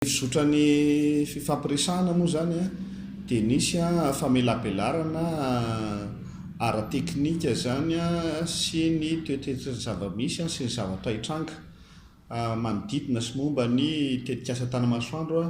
fizotran'ny fifampiresahana moa izany dia nisy famelabelarana ara-teknika izany sy ny toetoetry ny zava-misy sy ny zavatra hitranga manodidina sy momba ny tetikasa Tanamasoandro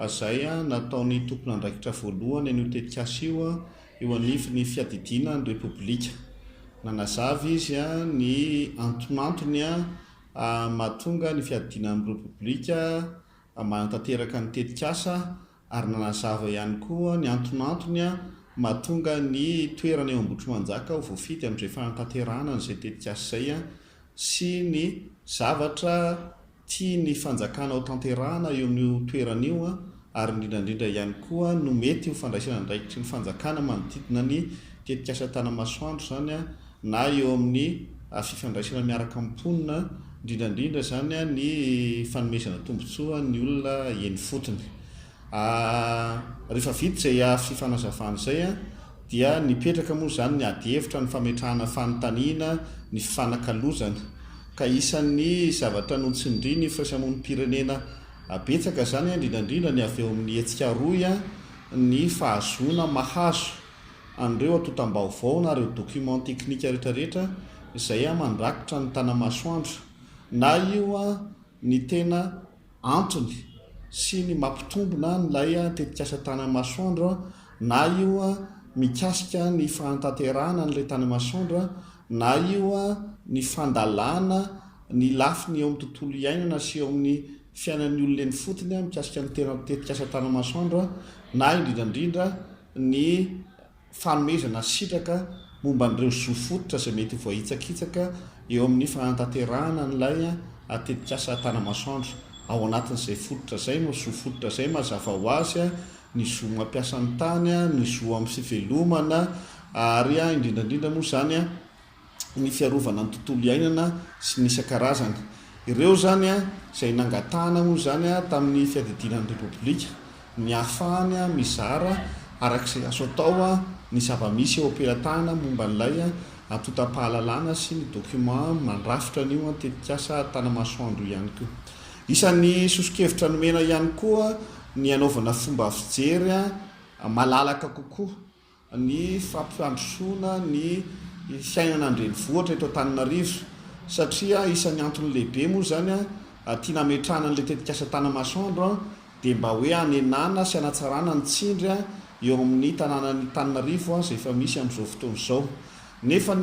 izay nataon'ny tompon'andraikitra voalohany an'io tetikasa io eo anivon'ny fiadidiana ny Repoblika. Nanazava izy ny antonantony mahatonga ny fiadiana amin'ny Repoblika manatanteraka ny tetikasa ary nanazava ihany koa ny antonantony mahatonga ny toerana eo Ambohitrimanjaka ho voafidy amin'izay fanatanterahana an'izay tetikasa izay sy ny zavatra tian'ny fanjakana ho tanterahana eo amin'io toerana io ary indrindrandrindra ihany koa no mety ho fandraisana andraikitry ny fanjakana manodidina ny tetikasa Tanamasoandro izany na eo amin'ny fifandraisana miaraka amin'ny mponina, indrindra indrindra izany ny fanomezana tombontsoa ny olona eny ifotony. Rehefa vita izay afisy fanazavana izay dia nipetraka moa izany ny adihevitra, ny fametrahana fanontaniana, ny fifanakalozana. Ka isan'ny zavatra notsindrin'ny firaisamonim-pirenena betsaka izany, indrindra indrindra ny avy eo amin'ny hetsika rohy, ny fahazoana mahazo an'ireo antontam-baovao na ireo documents techniques rehetrarehetra izay mandrakotra ny tana-masoandro na io ny tena antony sy ny mampitombina an'ilay tetikasa tana-masoandro na io mikasika ny fahantanterahana an'ilay tana-masoandro na io ny fandalana ny lafiny eo amin'ny tontolo iainana sy eo amin'ny fiainan'ny olona eny fotony mikasika ny tetikasa tana-masoandro na indrindrandrindra ny fanomezana sitraka momba an'ireo zo fototra izay mety ho voahitsakitsaka eo amin'ny fanatanterahana an'ilay tetikasa Tanamasoandro. Ao anatin'izay fototra izay no zo fototra izay mazava ho azy ny zo mampiasa ny tany, ny zo amin'ny fivelomana ary indrindra indrindra moa izany ny fiarovana ny tontolo iainana sy ny isan-karazany. Ireo izany izay nangatahana moa izany tamin'ny fiadidiana ny Repoblika ny hahafahany mizara araka izay azo atao ny zava-misy eo am-pelatahana momba an'ilay antontam-pahalalana sy ny document mandrafitra an'io tetikasa Tanamasoandro io ihany koa. Isan'ny soso-kevitra nomena ihany koa ny hanaovana fomba fijery malalaka kokoa. ny fampandrosoana ny fiainana an-drenivohitra eto Antananarivo satria isan'ny antony lehibe moa izany tiana hametrahana an'ilay tetikasa Tanamasoandro dia mba hoe hanenana sy hanatsarana ny tsindry eo amin'ny tanànan'Itananarivo izay efa misy amin'izao fotoana izao nefa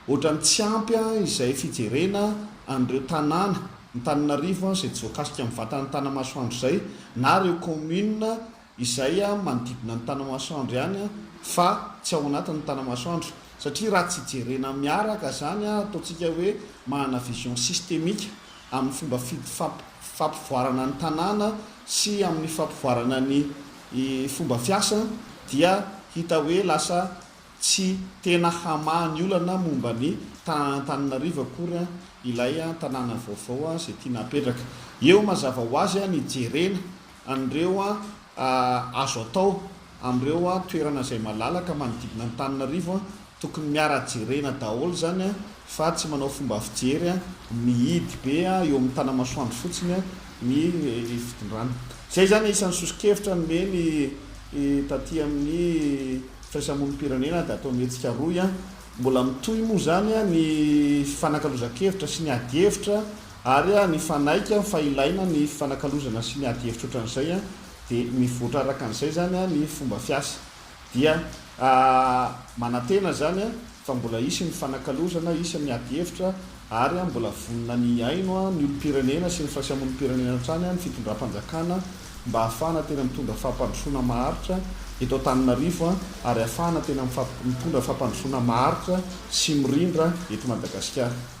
ohatran'ny tsy ampy izay fijerena an'ireo tanàna ny Tananarivo izay tsy voakasika amin'ny vatan'ny Tanamasoandro izay na ireo commune izay manodidina ny Tanamasoandro ihany fa tsy ao anatin'ny Tanamasoandro satria raha tsy jerena miaraka izany ataontsika hoe manana vision systemique amin'ny fomba fampivoarana ny tanàna sy amin'ny fampivoarana ny fomba fiasa dia hita hoe lasa tsy tena hamaha ny olana momba ny tanan'Antananarivo akory ilay tanàna vaovao izay tiana hapetraka eo mazava ho azy ny jerena an'ireo azo atao amin'ireo toerana izay malalaka manodidina an'Antananarivo, tokony miara jerena daholo izany fa tsy manao fomba fijery mihidy be eo amin'ny tanamasoandro fotsiny ny fitondrana. Izay izany isan'ny soso-kevitra nomeny taty amin'ny firaisamonim-pirenena Dato Mihetsika Roy. Mbola mitohy moa izany ny fifanakalozan-kevitra sy ny adihevitra. Ary nifanaiky fa ilaina ny fifanakalozana sy ny ady hevitra ohatran'izay dia mivoatra arakan'izay izany ny fomba fiasa. Dia manantena izany fa mbola hisy ny fifanakalozana, hisy ny ady hevitra ary mbola vonona ny hihaino ny olom-pirenena sy ny firaisam-olom-pirenena hatrany ny fitondram-panjakana mba hahafahana tena mitondra fampandrosoana maharitra eto Antananarivo ary hahafahana tena mitondra fampandrosoana maharitra sy mirindra eto Madagasikara.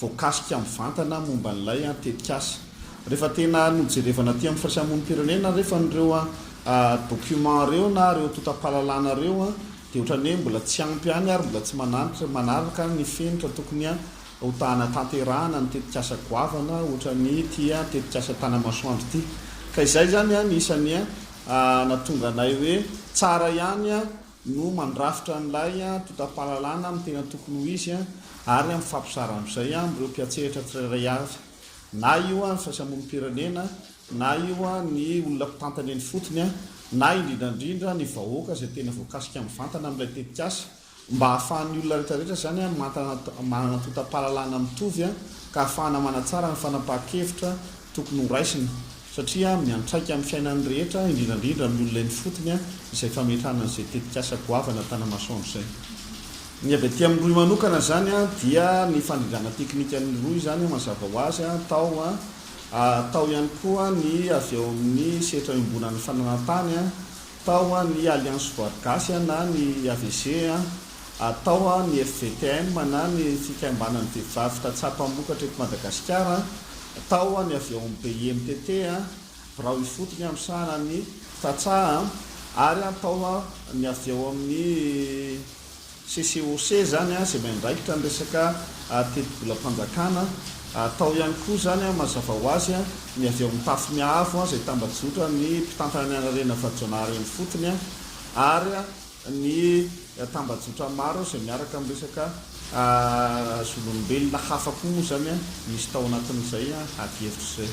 voakasika mivantana momba an'ilay tetikasa. Rehefa tena nojerevana aty amin'ny firaisamonim-pirenena rehefa an'ireo documents ireo na ireo antontam-pahalalana ireo dia ohatran'ny hoe mbola tsy ampy ihany ary mbola tsy mananitra manaraka ny fenitra tokony hotahanatanterahana ny tetikasa goavana ohatran'ny ity tetikasa Tanamasoandro ity. Ka izay izany no isan'ny nahatonga anay hoe tsara ihany no mandrafitra an'ilay antontam-pahalalana amin'ny tena tokony ho izy ary amin'ny fampizarana amin'izay amin'ireo mpiantsehatra tsirairay avy, na io ny faisamonim-pirenena, na io ny olona mpitantana eny ifotony, na indrindra indrindra ny vahoaka izay tena voakasika mivantana amin'ilay tetikasa, mba hahafahan'ny olona rehetra rehetra izany mantana manana antontam-pahalalana mitovy ka hahafahana manatsara ny fanapahan-kevitra tokony ho raisina. satria miantraika amin'ny fiainan'ny rehetra, indrindra indrindra amin'ny olona eny fotony, izay fametrahana an'izay tetikasa goavana an-tanamasoandro izay. Ny avy aty amin'ny rohy manokana izany dia ny fandrindrana teknikan'ny rohy izany mazava ho azy tao, tao ihany koa ny avy ao amin'ny sehatra iombonan'ny fananantany, Atao an ny Alliance Voary Gasy an na ny AVG an, atao an ny FVTM an na ny Fikambanan'ny Vehivavy Tantsaha Mpamokatra eto Madagasikara an, atao an ny avy ao amin'ny BIMTT an, Birao Ifotony amisahana ny Tantsaha an, ary atao an ny avy ao amin'ny. CCOC izany izay miandraikitra ny resaka tetibolam-panjakana, atao ihany koa izany mazava ho azy ny avy ao amin'ny Tafimiahaavo izay tambajotran'ny mpitantana ny anarena Vajonahary eny ifotony ary ny tambajotra maro izay miaraka amin'ny resaka zon'olombelona hafa koa moa izany misy tao anatin'izay adihevitra izay.